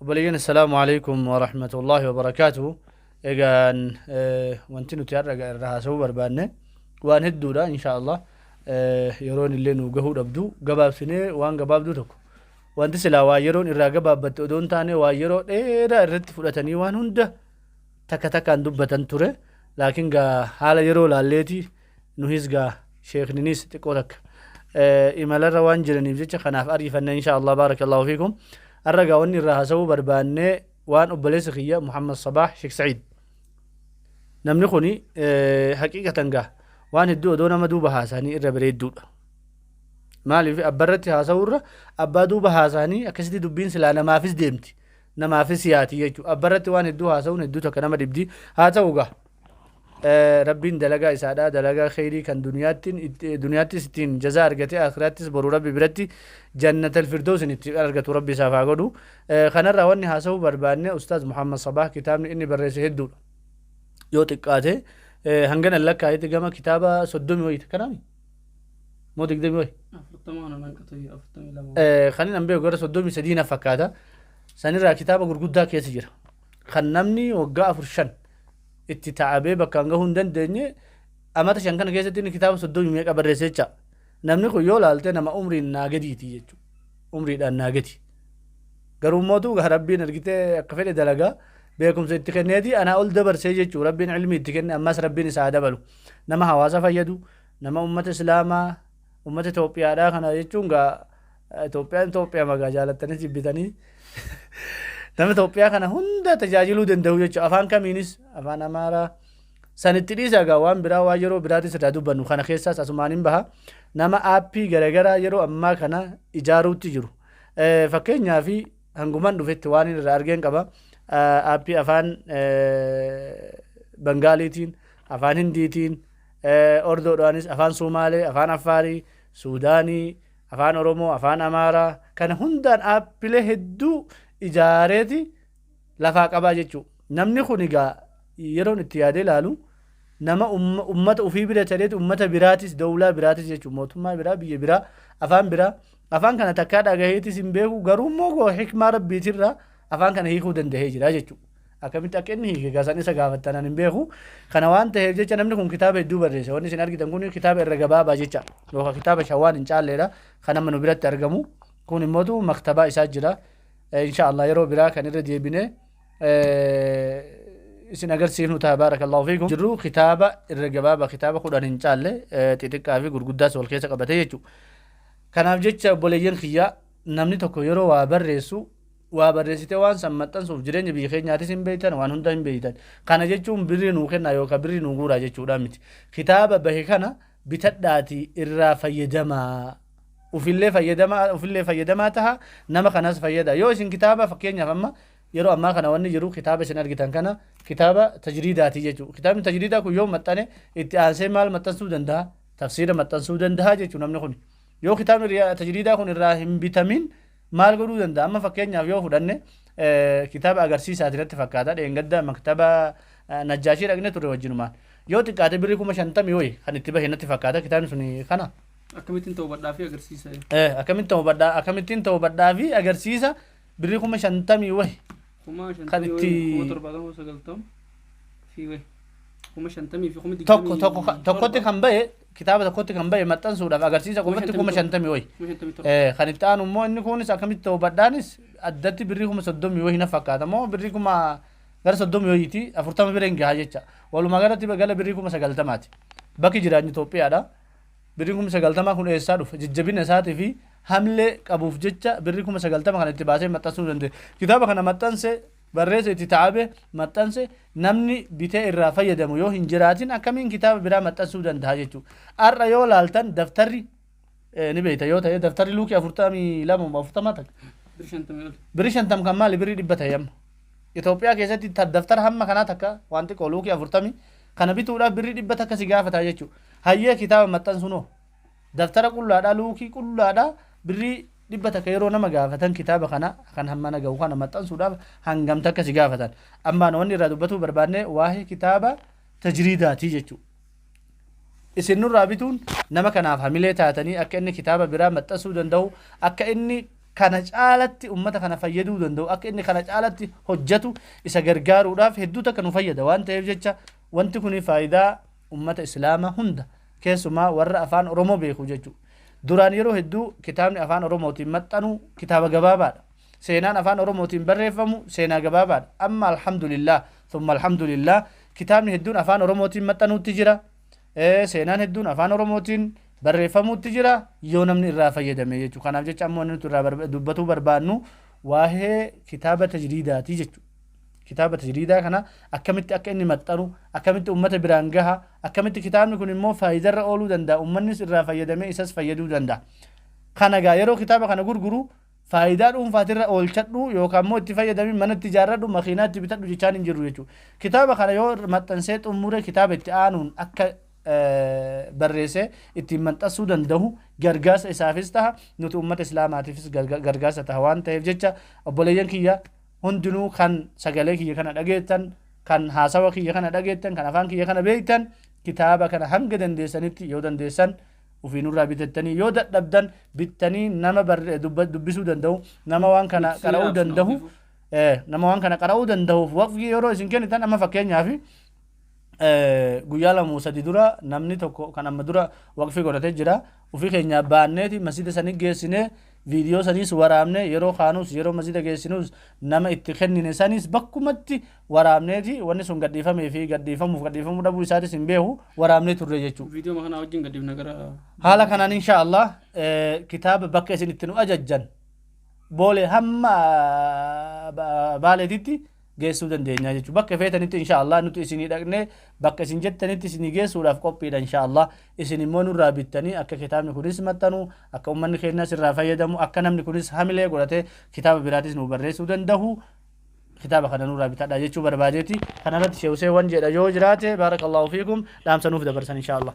Obboleeyyan assalaamu alaikum wa rahmatullahi wa barakaatu. Egaan wanti nuti har'a irra haasa'uu barbaanne waan hedduudha insha Allah yeroon illee nu gahuu dhabdu gabaabsinee waan gabaabduu tokko wanti silaa waa yeroon irraa gabaabbatte odoo hin taane waa yeroo dheeraa irratti fudhatanii waan hunda takka takkaan dubbatan ture laakiin gaa haala yeroo laalleeti nuhis gaa sheekninis xiqqoo takka imalarra waan jiraniif jecha kanaaf ariifanna insha Allah barakallahu fiikum arra gaa wanni irraa haasa'uu barbaannee waan obboleessa kiyya Muhammad Sabaah Sheek Sa'iid namni kun haqiiqatan gaa waan hedduu odoo nama duuba haasaanii irra bareedduudha maaliif abbarratti haasa'uurra abbaa duuba haasaanii akkasitti dubbiin silaa namaafis deemti namaafis yaati jechuudha abbarratti waan hedduu haasa'uun hedduu takka nama dhibdi haa ta'u gaa Rabbiin dalagaa isaadha. Dalagaa kheyrii kan duniyaattiin itti- duniyaattis ittiin jazaa argatee akhiraattis boru Rabbi biratti jannatal firdoosin itti kan argatu Rabbi isaaf haa godhu. Eh, Kanarraa wanni haasa'uu barbaanne Ustaaz Muhammad Sabaah kitaabni inni barreesse hedduudha. Yoo xiqqaate eh, hangana lakkaa'etti gama kitaaba soddomi wayita kanaami? Moo digdami wayi? afurtama kana nan qatee afurtamii lama Eh, kan inni beeku gara soddomii sadii na fakkaata. Sanirraa kitaaba gurguddaa keessa jira. kan namni waggaa afur shan itti ta'abee bakkaan gahuu hin dandeenye amata shan kana keessatti inni kitaaba soddomii meeqa barreesse jecha namni kun yoo laalte nama umriin naa gadiiti jechuudha umriidhaan naa gadi garuu mootu gaa rabbiin argitee akka fedhe dalagaa beekumsa itti kenneeti anaa ol dabarsee jechuudha rabbiin ilmi itti kenne ammas rabbiin isaa dabalu nama hawaasa fayyadu nama ummata islaamaa Uummata Itoophiyaadhaa kana jechuun gaa Itoophiyaan Itoophiyama gaa jaalattanis jibbitanii nama Itoophiyaa kana hunda tajaajiluu danda'u jechuudha. Afaan kamiinis afaan Amaaraa sanitti dhiisa gaa waan biraa waan yeroo biraatis irraa dubbannu kana keessaas asumaan hin baha. Nama aappii garaagaraa yeroo ammaa kana ijaaruutti jiru. Fakkeenyaa fi hanguman dhufetti waan irraa argeen qaba. Aappii afaan Bangaaliitiin, afaan Hindiitiin, Ordoodhaanis afaan Suumaalee, afaan Affaarii, Suudaanii, afaan Oromoo, afaan Amaaraa kana hundaan aappilee hedduu ijaareeti lafaa qabaa jechuu. Namni kun egaa yeroon itti yaadee ilaalu nama ummata ofii bira ta'eeti ummata biraatis dawlaa biraatis jechuun mootummaa biraa biyya biraa afaan biraa afaan kana takkaa dhagaheetis hin beeku garuu immoo hikmaa rabbiitirraa afaan kana hiikuu danda'ee jira jechuudha. Akkamitti akka inni hiike egaa san isa gaafattan ani hin beeku. Kana waan taheef jecha namni kun kitaaba hedduu barreesse. Wanni isin argitan kun kitaaba irra gabaabaa jecha yookaan kitaaba shan waan hin caalleedha. Kan amma nu biratti argamu. Kun immootu maktabaa isaa jira. Insha Allah yeroo biraa kan irra deebinee isin agarsiifnu taha baarakallahu fiikum. Jirru kitaaba irra gabaabaa kitaaba kudhan hin caalle xixiqqaa fi gurguddaas wal keessa qabate jechuudha. Kanaaf jecha obboleeyyan kiyyaa namni tokko yeroo waa barreessu waa barreessitee waan san maxxansuuf jireenya biyya keenyaatis hin beektan waan hunda hin beektan kana jechuun birrii nuu kennaa yookaan birrii nuu guuraa jechuudhaa miti kitaaba bahe kana bitadhaatii irraa fayyadamaa ufillee fayyadamaa ufillee fayyadamaa taha nama kanas fayyada yoo isin kitaaba fakkeenyaaf amma yeroo ammaa kana wanni jiru kitaaba isin argitan kana kitaaba tajriidaati jechuudha kitaabni tajriidaa kun yoo maxxane itti aansee maal maxxansuu danda'a tafsiira maxxansuu danda'a jechuudha namni kun yoo kitaabni tajriidaa kun irraa hin bitamin Maal godhuu danda'a? Amma fakkeenyaaf yoo fudhanne kitaaba agarsiisaati natti fakkaata. Dheengadda maktaba Najjaashii dhaqne turre wajjinumaan. Yoo xiqqaate birrii kuma shantamii wayi kan itti bahe natti fakkaata. Kitaabni sun kana. Akkamittiin toobadhaa fi agarsiisa. Akkamittiin toobadhaa akkamittiin toobadhaa fi agarsiisa birrii kuma shantamii wayi. Kuma shantamii itti- wayi, kuma torbaatama, kuma sagaltama fi wayi. Kuma shantamii fi kuma digdamii Tokko tokko tokkotti kan bahe kitaaba tokkotti kan ba'e maxxansuudhaaf agarsiisa Kuma qofatti kuma shantamii shantamii wayi. Kuma shantamii tokko. Eh, Kan itti aanu immoo inni kunis akkamitti ta'uu badhaanis addatti birrii kuma soddomii wayi na fakkaata moo birrii kuma gara soddomii wayiiti afurtama bira hin gahaa jecha. Walumaa galatti gala birrii kuma sagaltamaati. Bakki jiraanyi Itoophiyaadha. Birrii kuma sagaltamaa kun eessaa dhufa? Jajjabina isaatii fi hamlee qabuuf jecha birrii kuma sagaltama kana itti baasee maxxansuu dandeenya. Kitaaba kana maxxanse barreesse, itti taabe, maxxanse, namni bitee irraa fayyadamu yoo hin jiraatin akkamiin kitaaba biraa maxxansuu danda'a jechuu. Har'a yoo laaltan daftarri ni beekta yoo ta'e daftarri luukii afurtamii lama moo afurtamaa takka. Bir shantamii ol. Birri shantam kan maali birri dhibba ta'e amma. Itoophiyaa keessatti ta- daftara hamma kanaa takka waan xiqqoo luukii afurtamii kana bituudhaaf birri dhibba takka si gaafata jechuudha. Hayyee kitaaba maxxansuun hoo Dabtara qullaadha, luukii qullaadha, birrii dhibba takka yeroo nama gaafatan kitaaba kana kan hammana ga'u kana maxxansuudhaaf hangam takka si gaafatan. Ammaan wanni irraa dubbatuu barbaadne waa'ee kitaaba tajriidaati jechuudha. Isin nurraa bituun nama kanaaf hamilee taatanii akka inni kitaaba biraa maxxansuu danda'u, akka inni kana caalatti ummata kana fayyaduu danda'u, akka inni kana caalatti hojjetu isa gargaaruudhaaf hedduu takka nu fayyada waan ta'eef jecha wanti kun faayidaa ummata islaama hunda keessumaa warra afaan oromoo beeku jechu duraan yeroo hedduu kitaabni afaan oromootiin maxxanu kitaaba gabaabaadha seenaan afaan oromootiin barreeffamu seenaa gabaabaadha amma alhamdulillah thumma alhamdulillah kitaabni hedduun afaan oromootiin maxxanuutti jira seenaan hedduun afaan oromootiin barreeffamuutti jira yoo namni irraa fayyadame jechu kanaaf jecha ammoo nuti irraa dubbatuu barbaannu waa'ee kitaaba tajriidaatii jechuudha kitaaba tajriidaa kana akkamitti akka inni maxxanu, akkamitti ummata biraan gaha, akkamitti kitaabni kun immoo faayidarra ooluu danda'a, ummannis irraa fayyadamee isas fayyaduu danda'a. Kana gaa yeroo kitaaba kana gurguru faayidaa dhuunfaatirra oolchadhu yookaan immoo itti fayyadami manatti ijaarradhu makiinaatti bitadhu jechaan hin jirru jechuudha. Kitaaba kana yoo maxxansee xumure kitaaba itti aanuun akka barreessee ittiin maxxansuu danda'u gargaarsa isaafis taha nuti ummata islaamaatiifis gargaarsa taha waan ta'eef jecha obboleeyyan kiyya hundinuu kan sagalee kiyya kana dhageettan kan haasawa kiyya kana dhageettan kan afaan kiyya kana beektan kitaaba kana hanga dandeessanitti yoo dandeessan ofii nurraa bitattanii yoo dadhabdan bittanii nama barre- dubba- dubbisuu danda'u nama waan kana Ibsii qara'uu raabsina danda'u ofiifuu. eh, nama waan kana qara'uu danda'uuf waqfii yeroo isin kennitan amma fakkeenyaaf guyyaa lama moo sadi dura namni tokko kan amma dura waqfii godhatee jira ofii keenyaa baanneeti masjida sanii geessinee viidiyoo saniis waraabne yeroo kaanuus yeroo masjida geessinuus nama itti kennine saniis bakkumatti waraabneeti wanni sun gadhiifamee fi gadhiifamuuf gadhiifamuu dhabuu isaatis hin beeku waraabnee turre jechuudha. Viidiyoo makanaa wajjin gadhiifna gara haala kanaan insha Allah eh, kitaaba bakka isin itti nu ajajjan boolee hamma ah, ba- baaleetitti geessuu dandeenya jechuudha. Bakka feetanitti inshaa Allah nuti isinii dhaqnee bakka isin jettanitti isinii geessuudhaaf qophiidha inshaa Allah. Isin immoo nurraa bittanii akka kitaabni kunis maxxanu, akka ummanni keenyas irraa fayyadamu, akka namni kunis hamilee godhatee kitaaba biraatis nuu barreessuu dandahu kitaaba kana nurraa bitadha jechuu barbaadeeti. Kanarratti Sheekh Huseen wan jedha yoo jiraate baarakallahu fiikum dhaamsa nuuf dabarsan inshaa Allah.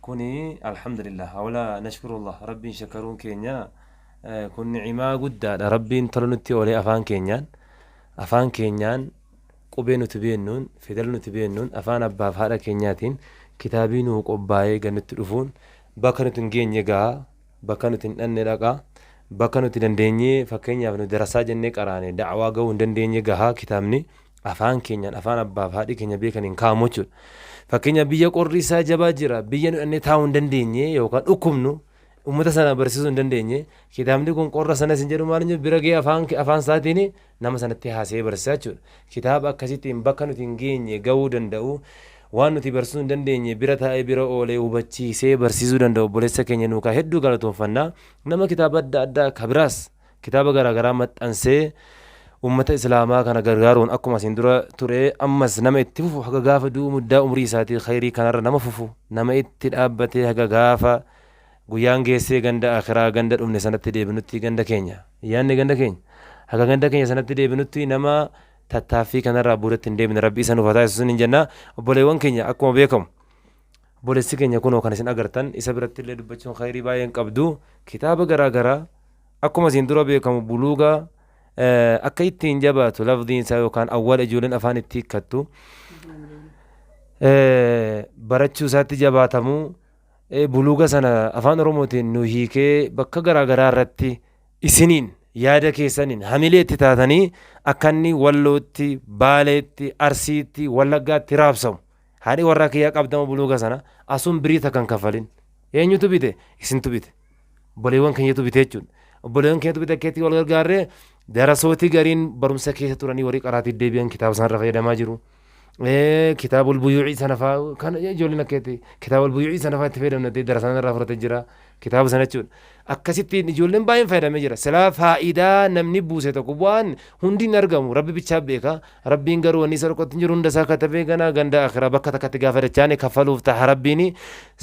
Kuni Alhamdulillah hawla nashkurullah Rabbiin shakkaruun keenya Kun ni'imaa guddaadha Rabbiin tola nutti oolee afaan keenyaan afaan keenyaan qubee nuti beennuun fidala nuti beennuun afaan abbaaf haadha keenyaatiin kitaabii nuu qophaa'ee gad nutti dhufuun bakka nuti hin geenye ga'a Bakka nuti hin dhanne dhaqaa. Bakka nuti dandeenyee fakkeenyaaf nuti darasaa jennee qaraane da'awaa gahuu hin dandeenye gahaa kitaabni afaan keenyaan afaan abbaaf haadhi keenya beekaniin kaa'amu jechuudha. Fakkeenyaaf biyya qorri isaa jabaa jira biyya nu dhannee taa'uu hin dandeenye yookaan dhukkubnu ummata sana barsiisuu hin dandeenye kitaabni kun qorra sana isin jedhu maal hin jedhu bira gahee afaan afaan isaatiin nama sanatti haasa'ee barsisaa jechuudha. Kitaaba akkasittiin bakka nuti hin geenye ga'uu danda'u, waan nuti barsiisuu hin dandeenye bira taa'ee bira oolee hubachiisee barsiisuu danda'u obboleessa keenya nuu kaa hedduu galatoomfanna. Nama kitaaba adda addaa ka biraas kitaaba garaa garaa maxxansee ummata islaamaa kana gargaaruun akkuma asiin dura ture ammas nama itti fufu haga gaafa du'u muddaa umrii isaatii khayrii kanarra nama fufu nama itti dhaabbatee haga gaafa Guyyaan geessee ganda Aakhiraa ganda dhumne sanatti deebinutti ganda keenya. Yaanni ganda keenya. Haga ganda keenya sanatti deebinutti nama tattaaffii kanarraa boodatti hin deebine Rabbi isa nuuf haa taasisu isiniin jenna. Obboleewwan keenya akkuma beekamu obboleessi keenya kunoo kan isin agartan isa biratti illee dubbachuun khayrii baay'ee hin qabdu kitaaba garaa garaa akkuma isin dura beekamu buluuga eh, akka ittiin jabaatu lafdiin isaa yookaan awwaala ijoolleen afaan itti hiikkattu eh, barachuu isaatti jabaatamuu buluuga sana afaan oromootiin nuu hiikee bakka garaa garaa irratti isiniin yaada keessaniin hamilee itti taatanii akka inni wallootti baaleetti arsiitti wallaggaatti raabsamu haadhi warraa kiyyaa qabdama buluuga sana asuun birii takka hin kaffalin eenyutu bite isintu bite Obboleewwan keenyatu bite jechuudha. Obboleewwan keenyatu bite akkeetti wal gargaarree darasooti gariin barumsa keessa turanii warri qaraatiif deebi'an kitaaba sanarra fayyadamaa jiru. Kitaaba olbuyyuucii sana fa'aa kan ijoolleen akkeetti kitaaba olbuyyuucii sana fa'aa itti fayyadamnatee darasaan irraa fudhatee jira. Kitaaba sana jechuudha. Akkasittiin ijoolleen baay'een fayyadamee jira. Silaa faayidaa namni buuse tokko bu'aan hundi hin argamu. Rabbi bichaa beeka. Rabbiin garuu wanni isa rukutti hin jiru hunda isaa katabee ganaa ganda akhiraa bakka takkatti gaafa dachaane kaffaluuf taha rabbiini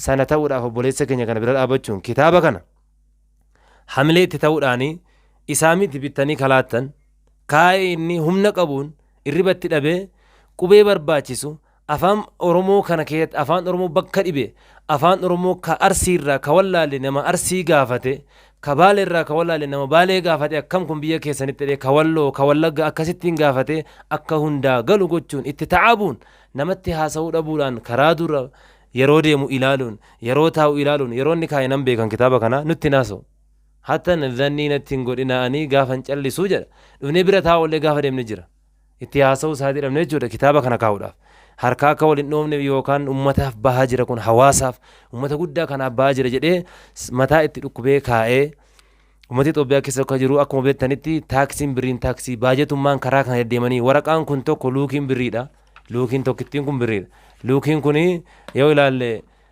sana ta'uudhaaf obboleessa keenya kana bira dhaabachuun kitaaba kana hamilee itti ta'uudhaani isaa miti bittanii kalaattan kaa'ee inni humna qabuun irribatti dhabee qubee barbaachisu Afaan oromoo kana keeysatti afaan oromoo bakka dhibe afaan oromoo ka arsii irraa ka wallaalle nama arsii gaafate ka baale irraa ka wallaalle nama baalee gaafate akkam kun biyya keessanitti jedhee ka walloo ka wallagga akkasittiin gaafate akka hundaa galu gochuun itti ta'aabuun namatti haasa'uu dhabuudhaan karaa dura yeroo deemu ilaaluun yeroo taa'u ilaaluun yeroo inni kaa'e nan beekan kitaaba kanaa nutti naasa'u hatan dhannii natti hin godhina ani gaafan callisuu jedha dhufnee bira taa'u illee gaafa deemne jira itti haasa'uu isaa jedhamne jechuudha kitaaba kana kaa'uudhaaf. Harkaa akka wal hin dhoofne yookaan ummataaf bahaa jira kun hawaasaaf ummata guddaa kanaaf bahaa jira jedhee mataa itti dhukkubee kaa'ee ummata Itoophiyaa keessa akka jiru akkuma beektanitti taaksiin birriin taaksii baajatummaan karaa kana deddeemanii waraqaan kun tokko luukiin birriidha. Luukiin tokkittiin kun birriidha. Luukiin kun yoo ilaalle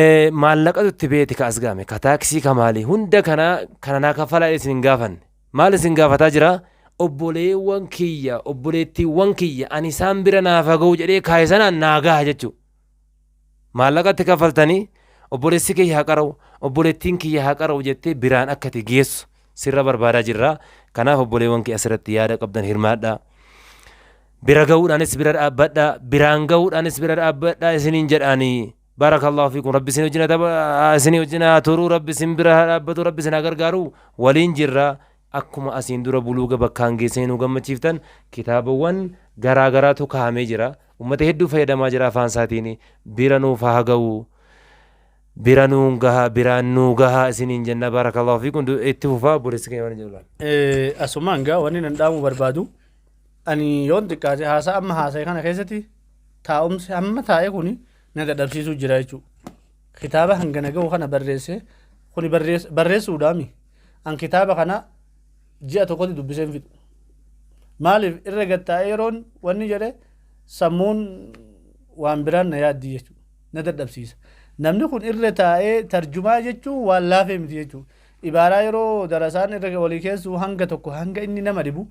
Eh, maallaqatu itti beeti ka asgaame ka taaksii ka maalii hunda kana kana naa kaffalaa isin hin gaafanne maal isin gaafataa jira obboleewwan kiyya obboleettiiwwan kiyya ani isaan bira naa faga'u jedhee kaa'e sanaan naa gaha jechuu maallaqatti kaffaltanii obboleessi kiyya haa qara'u obboleettiin kiyya haa qara'u jettee biraan akka itti geessu Sirra barbaadaa jirra. Kanaaf obboleewwan kee asirratti yaada qabdan hirmaadhaa. Bira ga'uudhaanis bira dhaabbadhaa. Biraan ga'uudhaanis bira dhaabbadhaa isiniin jedhaanii. Baarakallahu fiikum rabbi isin wajjin isin wajjin haa turu rabbi isin bira haa dhaabbatu rabbi isin haa gargaaru waliin jirra akkuma asiin dura buluuga bakkaan geessanii nu gammachiiftan kitaabawwan garaa garaatu kaa'amee jira ummata hedduu fayyadamaa jira afaan isaatiin bira nuuf haa ga'u. Bira nuun gaha biraan nuu gaha isiniin jenna baarakallahu fiikum du- itti fufaa obboleessi keenya waan jedhu Eh, asumaan gaa wanni nan dhaamuu barbaadu ani yoon xiqqaate haasaa amma haasa'e kana keessatti taa'umsi amma taa'e kuni na dadhabsiisuu jira jechuudha. Kitaaba hanga na ga'u kana barreessee kuni barreess- barreessuudhaami. An kitaaba kana ji'a tokkotti dubbiseen fixu. Maaliif irra gattaa'ee yeroon wanni jedhe sammuun waan biraan na yaaddii jechuudha. na dadhabsiisa. Namni kun irra taa'ee tarjumaa jechuun waan laafee miti jechuudha. Ibaaraa yeroo darasaan irra walii keessuu hanga tokko hanga inni nama dhibu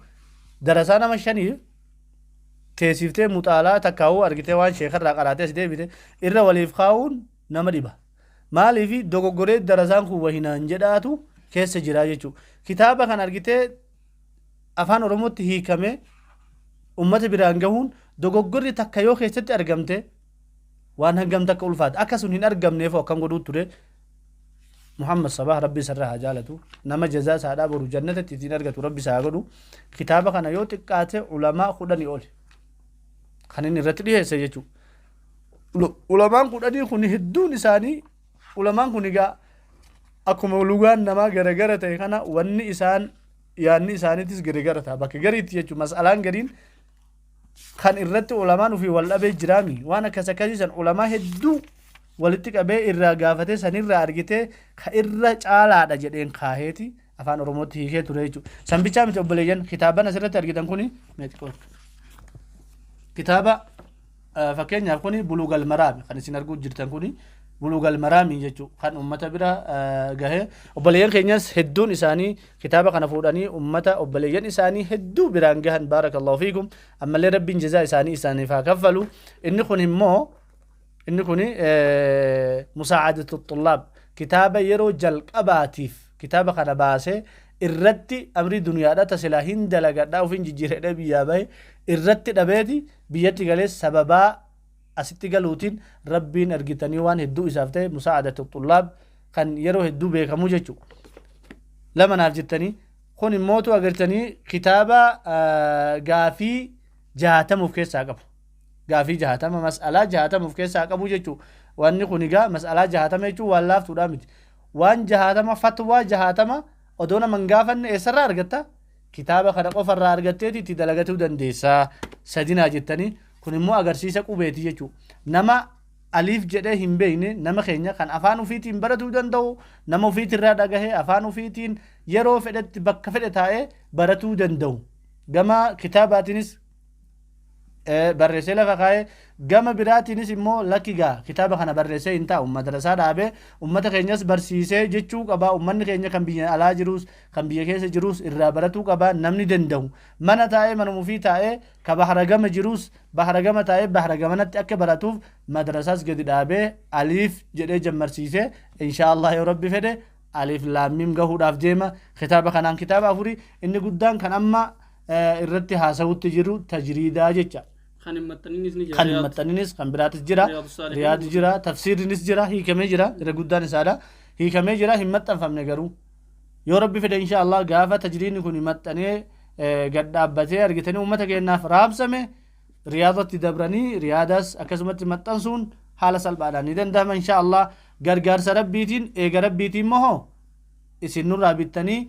darasaa nama shaniif teessiftee muxaalaa takkaawuu argitee waan sheekarraa qaraatee as deebite irra waliif kaa'uun nama dhiba. Maaliif dogoggoree darasaan kun wahinaan jedhaatu keessa jiraa jechuudha. Kitaaba kan argitee afaan Oromootti hiikamee uummata biraan gahuun dogoggorri takka yoo keessatti argamte waan hangam takka ulfaata akka sun hin argamneef akkan godhuu ture Muhammad Sabah Rabbi isarraa haa jaalatu nama jazaa isaadhaa boru jannatatti ittiin argatu Rabbi isaa haa godhu kitaaba kana yoo xiqqaate ulamaa kudhanii oli kan inni irratti dhiheesse jechuudha. Ulamaan kudhanii kun hedduun isaanii ulamaan kun egaa akkuma lugaan namaa garagara ta'e kana wanni isaan yaanni isaaniitis garagara ta'a bakka gariitti jechuudha mas'alaan gariin kan irratti ulamaan ufii wal dhabee jiraami waan akkas akkasii san ulamaa hedduu walitti qabee irraa gaafatee san irraa argitee ka irra caalaadha jedheen kaaheeti afaan oromootti hiikee ture jechuudha san bichaa miti obboleeyyan kitaaban asirratti argitan kuni meexiqoon kitaaba eh, fakkeenyaaf kuni buluugal maraami kan isin arguu jirtan kuni buluugal maraami jechuudha kan uummata bira eh, gahee obboleeyyan keenyas hedduun isaanii kitaaba kana fuudhanii ummata obboleeyyan isaanii hedduu biraan gahan baarakallahu fiikum ammallee rabbiin jazaa isaanii isaaniif haa kaffalu inni kun immoo inni kun musaacadatu xullaab kitaaba yeroo jalqabaatiif kitaaba kana baasee irratti amrii duniyaadha tasilaa hin dalagadha ofiin jijjiiredha biyyaa bahe irratti dhabeeti biyyatti galees sababaa Asitti galuutiin Rabbiin ergitanii waan hedduu isaaf ta'e musaa'adatu xullaab kan yeroo hedduu beekamu jechu. Lama naaf jettanii kun immootu agartanii kitaaba gaafii jahatama of keessaa qabu. Gaafii jahatama mas'alaa jahatama of keessaa qabu jechu. Wanni kun egaa mas'alaa jahatama jechuun waan laaftuudhaa miti. Waan jahatama fatwaa jahatama odoo nama hin gaafanne eessarraa argatta? Kitaaba kana qofa irraa argatteeti itti dalagatuu dandeessa. Sadi naa jettanii kun immoo agarsiisa qubeeti jechuu. Nama aliif jedhee hin beekne nama keenya kan afaan ofiitiin baratuu danda'u nama ofiitirraa dhagahee afaan ofiitiin yeroo fedhetti bakka fedhe taa'ee baratuu danda'u. Gama kitaabaatiinis barreessee lafa kaa'e gama biraatiinis immoo lakki gaa kitaaba kana barreessee hin taa'u madrasaa dhaabee ummata keenyas barsiisee jechuu qaba ummanni keenya kan biyya alaa jiruus kan biyya keessa jiruus irraa baratuu qaba namni danda'u mana taa'ee manuma ofii taa'ee ka bahara gama jiruus bahara gama taa'ee bahara gamanatti akka baratuuf madrasaas gadi dhaabee aliif jedhee jammarsiise inshaallah yoo rabbi fedhe aliif laammiim gahuudhaaf deema kitaaba kanaan kitaaba afurii inni guddaan kan amma eh, irratti haasawutti jiru tajriidaa jecha Kan hin maxxaninis ni jira. kan hin Riyaad. maxxaninis kan biraatis jira Riyaadu Saalihiin riyaadu guutuu. jira tafsiirrinis jira hiikamee jira irra guddaan isaadha hiikamee jira hin maxxanfamne garuu yoo rabbi fedhe insha Allah gaafa tajriidni kun maxxanee eh, gad dhaabbatee argitanii uummata keenyaaf raabsame riyaadatti dabranii riyaadaas akkasumatti maxxansuun haala salphaadhaan ni danda'ama insha Allah gargaarsa rabbiitiin eega rabbiitiin moo isin nurraa bittanii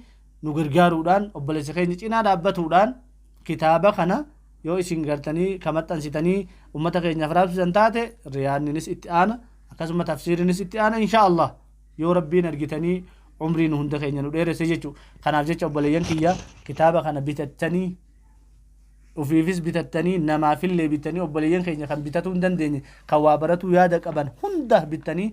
nu gargaaruudhaan obboleessa keenya cinaa dhaabbatuudhaan kitaaba kana yoo isin gartanii ka maxxansitanii ummata keenyaaf raabsisan taate riyaanninis itti aana akkasuma tafsiirinis itti aana insha allah yoo rabbiin argitanii umriin hunda keenya nu dheeresse jechu kanaaf jecha obboleeyyan kiyya kitaaba kana bitattanii ufiifis bitattanii namaafillee bitanii obboleeyyan keenya kan bitatuu hin dandeenye kan waa baratuu yaada qaban hunda bittanii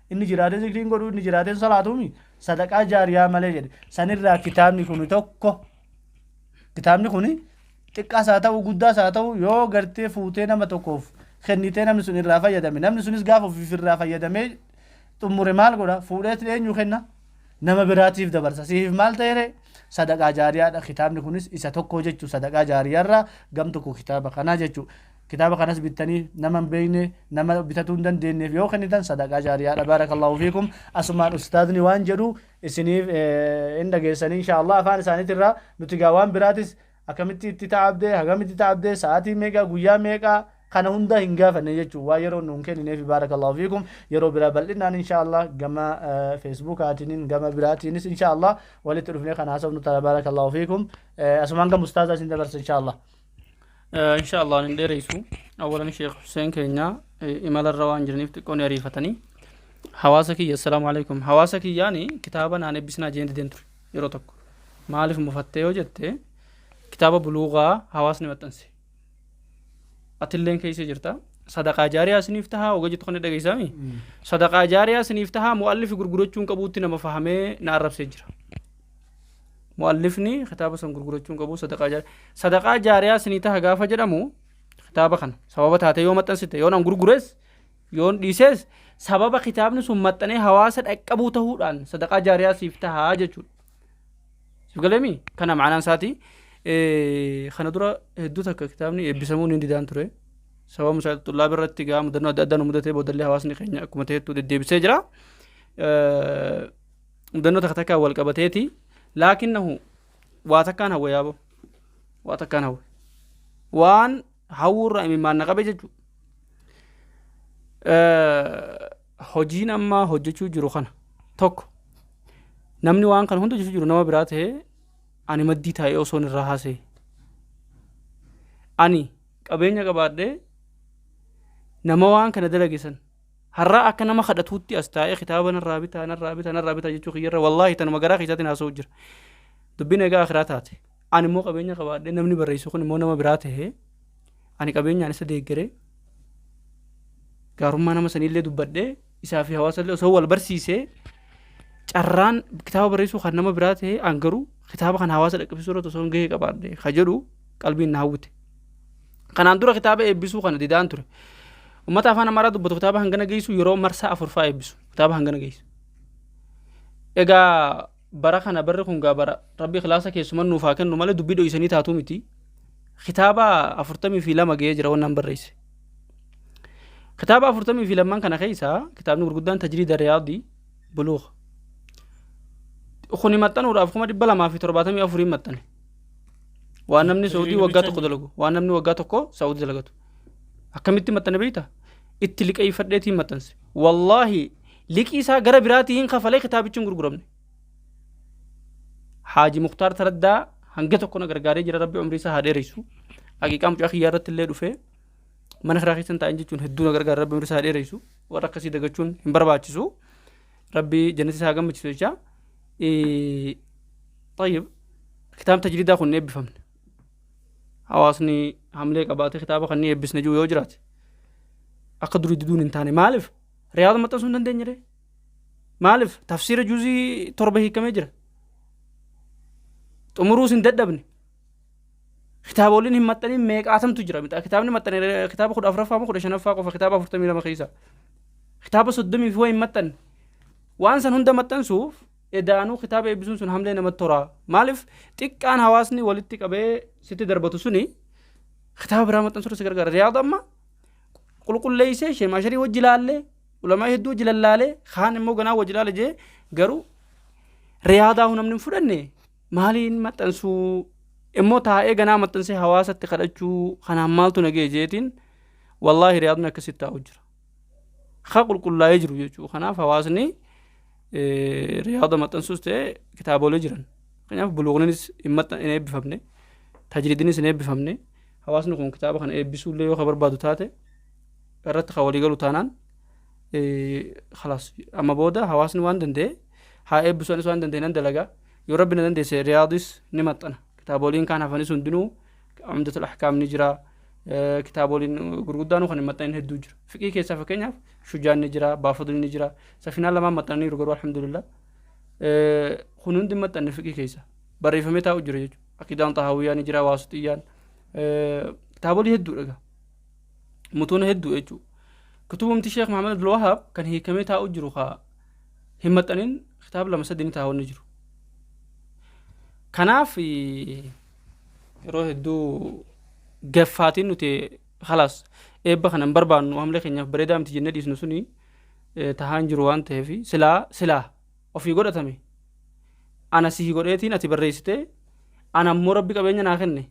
Inni jiraatee zikrii hin godhu, inni jiraatee hin salaatuumi. Sadaqaa jaariyaa malee jedhe. Sanirraa kitaabni kuni tokko. Kitaabni kuni xiqqaas haa ta'u guddaas haa ta'u yoo gartee fuutee nama tokkoof kennitee namni sun irraa fayyadame namni sunis gaafa ofiif irraa fayyadamee xumure maal godha fuudheetti eenyu kenna nama biraatiif dabarsa siif maal ta'ere sadaqaa jaariyaadha kitaabni kunis isa tokko jechuu sadaqaa jaariyaarraa gam tokko kitaaba kanaa jechuu Kitaaba kanas bittanii nama hin beekne, nama bitatuu hin dandeenyeef yoo kennitan sadaqaa jaariyaadha. Baarakallaahu fiikum. Asumaan ustaazni waan jedhu isiniif hin dhageessanii inshaallah afaan isaaniitirraa. Nuti egaa waan biraatis akkamitti itti ta'abde, hagamitti ta'abde, sa'aatii meeqa, guyyaa meeqa kana hunda hin gaafanne jechuun waa yeroo nuun kennineef baarakallaahu fiikum. Yeroo biraa bal'inaan inshaallah gama feesbuukaatiinis gama biraatiinis inshaallah walitti dhufnee kan haasofnu ta'a baarakallaahu fiikum. Asumaan gama ustaazaa isin dabarsa inshaallah. insha allah hin dheereysu awwalan sheekh huseen keenya imalarra waan jiraniif xiqqoo ni ariifatanii hawaasa kiyya assalaamu alaikum hawaasa kiyyaani kitaaba naan ebbisnaa jeen dideen ture yeroo tokko maaliif mufattee yoo jette kitaaba buluugaa hawaasni maxxanse atilleen keessa jirta sadaqaa jaariyaa isiniif tahaa oga jettu kana dhageessaami sadaqaa jaariyaa isiniif tahaa mu'allifi gurgurachuun qabuutti nama fahamee na arrabsee jira mu'allifni kitaaba san gurgurachuun qabu sadaqaa jaariyaa sadaqaa jaariyaa sinii taha gaafa jedhamu kitaaba kana sababa taatee yoo maxxansite yoon an gurgures yoon dhiises sababa kitaabni sun maxxanee hawaasa dhaqqabuu tahuudhaan sadaqaa jaariyaa siif tahaa jechuudha. Siif galeemi kana maanaan isaatii kana dura hedduu takka kitaabni eebbifamuu ni didaan ture. Sababa musaa xullaa birratti gaa mudannoo adda addaa nu mudatee boodallee hawaasni keenya akkuma ta'etu deddeebisee jira. mudannoo takka takkaan wal qabateeti laakinnahu waa takkaan hawwe yaabo waa takkaan hawwe waan hawwuurraa imimmaan na qabe jechu hojiin ammaa hojjechuu jiru kana tokko namni waan kana hunda hojjechuu jiru nama biraa ta'ee ani maddii taa'ee osoon irraa haasee ani qabeenya qabaadhee nama waan kana dalagisan Har'aa akka nama kadhatuutti as taa'ee kitaaba narraa bitaa narraa bitaa narraa bitaa jechuu kiyyarra wallaahi tanuma garaa keessaatiin haasa'u jira. Dubbiin egaa akiraa taate. Ani immoo qabeenya qabaadhee namni barreessu kun immoo nama biraa ta'ee ani qabeenyaan isa deeggaree gaarummaa nama saniillee dubbadhee isaa fi hawaasallee osoo wal barsiisee carraan kitaaba barreessuu kan nama biraa ta'ee an garuu kitaaba kan hawaasa dhaqqabsiisuu irratti osoo hin gahee qabaadhe ka jedhu qalbiin na hawwite. Kanaan dura kitaaba eebbisuu kana didaan ture. Uummata afaan Amaaraa dubbatu kitaaba hangana geessu yeroo marsaa afurfaa eebbisu. Kitaaba hangana geessu. Egaa bara kana barri kun gaa bara rabbi kilaasa keessuman nuuf haa kennu malee dubbii dho'isanii taatuu miti. Kitaaba afurtamii fi lama ga'ee jira wannaan barreesse. Kitaaba afurtamii fi lamman kana keessaa kitaabni gurguddaan tajriida riyaadii buluuqa. Kuni maxxanuudhaaf kuma dhibba lamaa fi torbaatamii afuriin maxxane. waan namni saudii Hiriirri waggaa bichaa tokko dalagu waan namni waggaa tokko saudii dalagatu akkamitti maxxane beekta itti liqeeffadheetiin maxxanse wallaahi liqii isaa gara biraatii hin kafalee kitaabichi hin gurguramne haaji muktaar taraddaa hanga tokko na gargaaree jira rabbi umrii isaa haa dheeressu haqiiqaa mucaa kiyyaa irratti illee dhufee mana kiraa keessan taa'in jechuun hedduu na gargaara rabbi umrii isaa haa dheeressu warra akkasii dagachuun hin barbaachisu rabbi jannati isaa gammachiisu jecha tayyib kitaabni tajriidaa kun ni eebbifamne hawaasni hamlee qabaatee kitaaba kan ni eebbisne jiru yoo jiraate akka durii diduun hin taane maaliif riyaada maxxansuu hin dandeenye ree maaliif tafsiira juzii torba hiikamee jira xumuruus hin dadhabne Kitaaboliin hin maxxaniin meeqaatamtu jira mixaa kitaabni maxxane kitaaba kudha afuraffaa moo kudha shanaffaa qofa kitaaba afurtamii lama keessa kitaaba soddomii fi hin maxxanne waan san hunda maxxansuuf edaanuu kitaaba eebbisuun sun hamlee namatti tola maaliif xiqqaan hawaasni walitti qabee sitti darbatu suni kitaaba biraa maxxansuurra si gargaara riyaada amma qulqulleessee sheemaasharii wajji laallee ulamaa hedduu wajji lallaalee kaan immoo ganaa wajji laale jee garuu riyaadaa namni hin fudhanne Maaliin maxxansuu immoo taa'ee ganaa maxxansee hawaasatti kadhachuu kanaan maaltu nagee jeetiin wallaahi riyaadni akkasitti taa'u jira. Ka qulqullaa'ee jiru jechuudha. Kanaaf hawaasni riyaada maxxansuus ta'e kitaabolee jiran. Kanaaf buluuqninis hin eebbifamne tajridinis hin eebbifamne hawaasni kun kitaaba kana eebbisuullee yoo ka barbaadu taate irratti ka walii galu taanaan khalaas amma booda hawaasni waan danda'e haa eebbisu anis waan danda'e nan dalaga yoo rabbi na dandeesse riyaadis ni maxxana kitaaboliin kaan hafanis hundinuu amdatul ahkaam ni jira eh, kitaaboliin gurguddaanuu kan hin maxxanin hedduu jira fiqii keessaa fakkeenyaaf shujaan ni jira baafadulii ni jira safinaa lamaan maxxananiiru garuu alhamdulillah Eh, kun hundi hin maxxanne fiqii keessa barreeffamee taa'u jira jechuudha akidaan xahaawiyyaa ni jira waasixiyaan kitaabolii hedduudha egaa mutuuna hedduu jechuudha kutubumti sheekh mahamad abdulwahaab kan hiikamee taa'u jiru kaa hin maxxanin kitaaba lama sadii ni taa'u ni jiru. Kanaaf yeroo hedduu gaffaatiin nuti halaas eebba kana hin barbaannu hamlee keenyaaf bareedaa miti jennee dhiisnu suni tahaa hin jiru waan ta'eef silaa silaa ofii godhatame ana sii godheetiin ati barreessitee ana immoo rabbi qabeenya naa kenne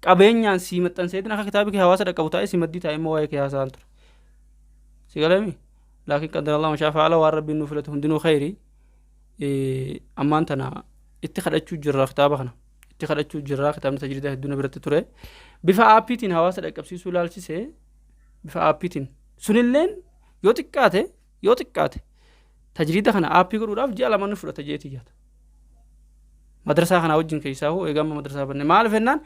qabeenyaan sii maxxanseetiin akka kitaabii kee hawaasa dhaqqabu taa'ee si maddii taa'ee immoo waa'ee kee haasa'aan ture. Si galami? laakiin qadarallahu mashaa fa'ala waan rabbiin nu filatu hundinuu khayri ammaan tana itti kadhachuu jirra kitaaba kana itti kadhachuu jirra kitaabni tajridaa hedduu na biratti ture bifa aappiitiin hawaasa dhaqqabsiisuu ilaalchise bifa aappiitiin sunilleen yoo xiqqaate yoo xiqqaate tajriida kana aappii godhuudhaaf ji'a lama nu fudhata jeeti yaada madrasaa kana wajjin keessaa hoo eegamma madrasaa banne maal fennaan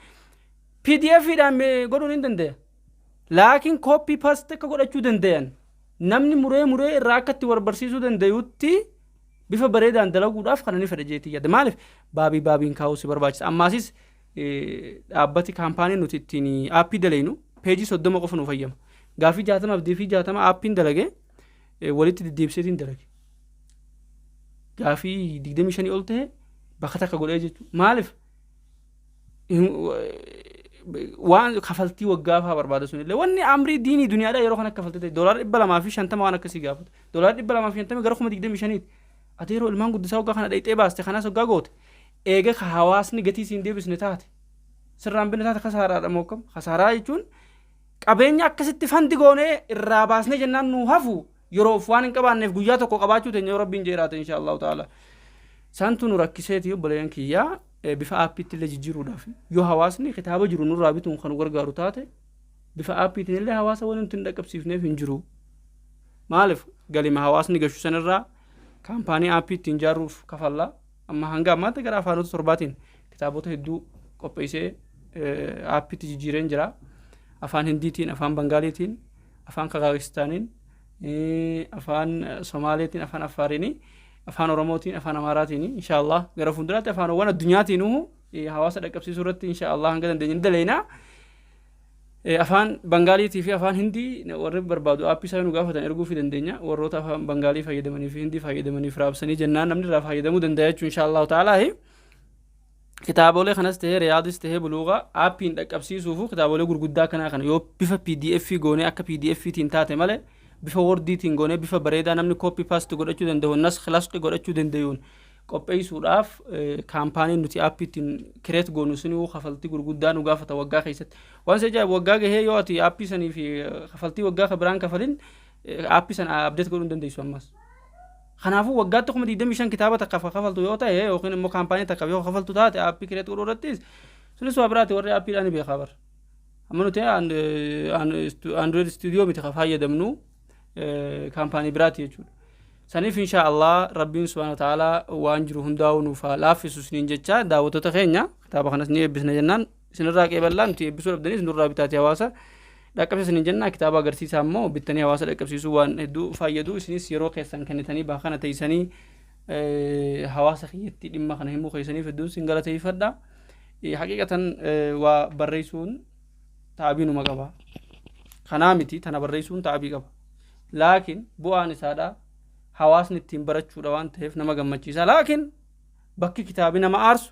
pdf dhaan godhuun hin dandeenya Laakiin copy paste akka godhachuu dandayan namni muree muree irraa akka itti warbarsiisuu dandayutti bifa bareedaan dalaguudhaaf kana ni fedha jeetii yaada. Maaliif baabii baabiin kaa'uu si barbaachisa. Ammaasis dhaabbati kaampaanii nuti ittiin aappii dalaynu peejii soddoma qofa nu fayyama. Gaaffii jaatamaaf deefii jaatama aappiin dalage walitti deddeebiseetiin dalage. Gaaffii digdamii shanii ol ta'e bakka takka godhee jechuudha. Maaliif waan kafaltii waggaa fa'aa barbaada sun illee wanni amrii diinii duniyaadhaa yeroo kana kafaltee ta'e doolaara dhibba lamaa fi shantama waan akkasii gaafata doolaara dhibba lamaa fi shantama gara kuma digdamii shaniiti ati yeroo ilmaan guddisaa waggaa kana dhayxee baaste kanas waggaa goote eega ka hawaasni gatii siin deebisne taate sirraan binne taate kasaaraadha moo akkam kasaaraa jechuun qabeenya akkasitti fandi goonee irraa baasnee jennaan nuu hafu yeroof waan hin qabaanneef guyyaa tokko qabaachuu teenya yoo rabbiin jeeraate insha allahu ta'ala santu nu rakkiseeti obboleeyyan kiyyaa bifa aappiitti illee jijjiiruudhaaf yoo hawaasni kitaaba jiru nurraa bituun kan nu gargaaru taate bifa aappiitiin illee hawaasa waliin nuti hin dhaqqabsiifneef hin jiru. Maaliif galima hawaasni gashu sanirraa kaampaanii aappii ittiin ijaarruuf kafalla. Amma hanga ammaatti gara afaanota torbaatiin kitaabota hedduu qopheessee aappiitti jijjiireen jira. Afaan Hindiitiin, afaan Bangaaliitiin, afaan Kazaakistaaniin, afaan Somaaleetiin, afaan Affaariinii afaan oromootiin afaan amaaraatiin insha allah gara fuulduraatti afaanowwan addunyaatiin hawaasa dhaqqabsiisuu irratti insha allah hanga dandeenye ni daleeyna. afaan bangaaliitii fi afaan hindii warri barbaadu aappii isaa nu gaafatan erguu fi dandeenya warroota afaan bangaalii fayyadamanii fi hindii fayyadamaniif raabsanii jennaan namni irraa fayyadamuu danda'a jechuun insha allahu ta'alaahi. Kitaaboolee kanas tahee Riyaadis tahee Buluuga aappiin dhaqqabsiisuufuu kitaaboolee gurguddaa akkanaa kana yoo bifa pdf goonee akka pdf tiin taate malee bifa wordii tiin goonee bifa bareedaa namni copy paste godhachuu danda'uun naskh lasqi godhachuu danda'uun qopheessuudhaaf kaampaaniin nuti aappii ittiin create goonu suniwuu kafaltii gurguddaa nu gaafata waggaa keessatti. Waan si ajaa'ibu waggaa gahee yoo ati aappii sanii fi kafaltii waggaa ka biraan kafalin aappii sana update godhuu hin dandeessu ammas. Kanaafuu waggaatti kuma 25 kitaaba takkaaf ka kafaltu yoo ta'e yookiin immoo kaampaanii takkaaf yoo ka kafaltu taate aappii kireet godhuu irrattis sunis waa biraati warri aappiidhaa ni beekaa bar. Amma nuti Android Studio miti ka fayyadamnu kaampaanii biraati jechuudha. Saniif insha Allah Rabbiin subhaanahu wa ta'aalaa waan jiru hundaa'uu nuuf haa laaffisu isiniin jecha daawwattoota keenya kitaaba kanas ni eebbisna jennaan isinirraa qeeballaa nuti eebbisuu dhabdanis nurraa bitaati hawaasa dhaqqabsa isin jennaa kitaaba agarsiisaa immoo bittanii hawaasa dhaqqabsiisuu waan hedduu fayyadu isinis yeroo keessan kennitanii baha kana teessanii hawaasa kiyyatti dhimma kana himuu keessaniif hedduun isin galateeffadha. Haqiqatan waa barreessuun taabiinuma qaba. Kanaa miti tana barreessuun taabii qaba. Laakiin bu'aan isaadha hawaasni ittiin barachuudha waan ta'eef nama gammachiisa. Laakiin bakki kitaabi nama aarsu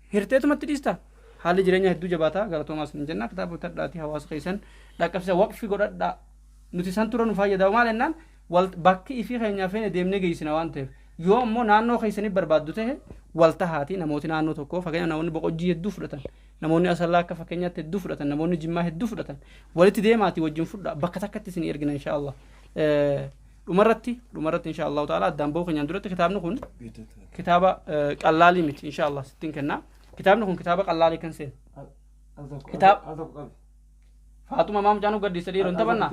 Hirteetumatti dhiista? Haalli jireenyaa hedduu jabaata, galatoomaa isiniin jenna. Kitaaba bitadhaatii hawaasa keessan dhaqqabsiisaa. Waqfii godhadhaa. Nuti santu irra nu fayyada. Maal jennaan wal bakki ifii keenyaa feene deemnee geessina waan ta'eef. Yoo immoo naannoo keessanii barbaaddu ta'e wal tahaatii namooti naannoo tokkoo fakkeenyaaf namoonni boqojjii hedduu fudhatan namoonni asallaa akka fakkeenyaatti hedduu fudhatan namoonni jimmaa hedduu fudhatan walitti deemaatii wajjin fudhaa bakka takkatti isin ergina inshaallah. Eh, dhumarratti dhumarratti insha Allahu ta'ala addaan ba'uu keenyaan duratti kitaabni kun kitaaba eh, qallaalii miti insha Allah sittiin kenna kitaabni kun kitaaba qallaalii kan seenu Kitaab- Faatuma maam jaanuu gaddiisa dhiiroo hin taphannaa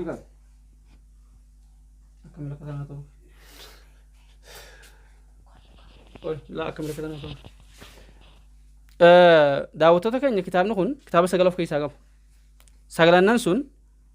akkam lafa sana ta'u Ol, laa akkam lafa sana ta'u Eh, daawwattoota keenya kitaabni kun kitaaba sagal of keessaa qabu sagalannan sun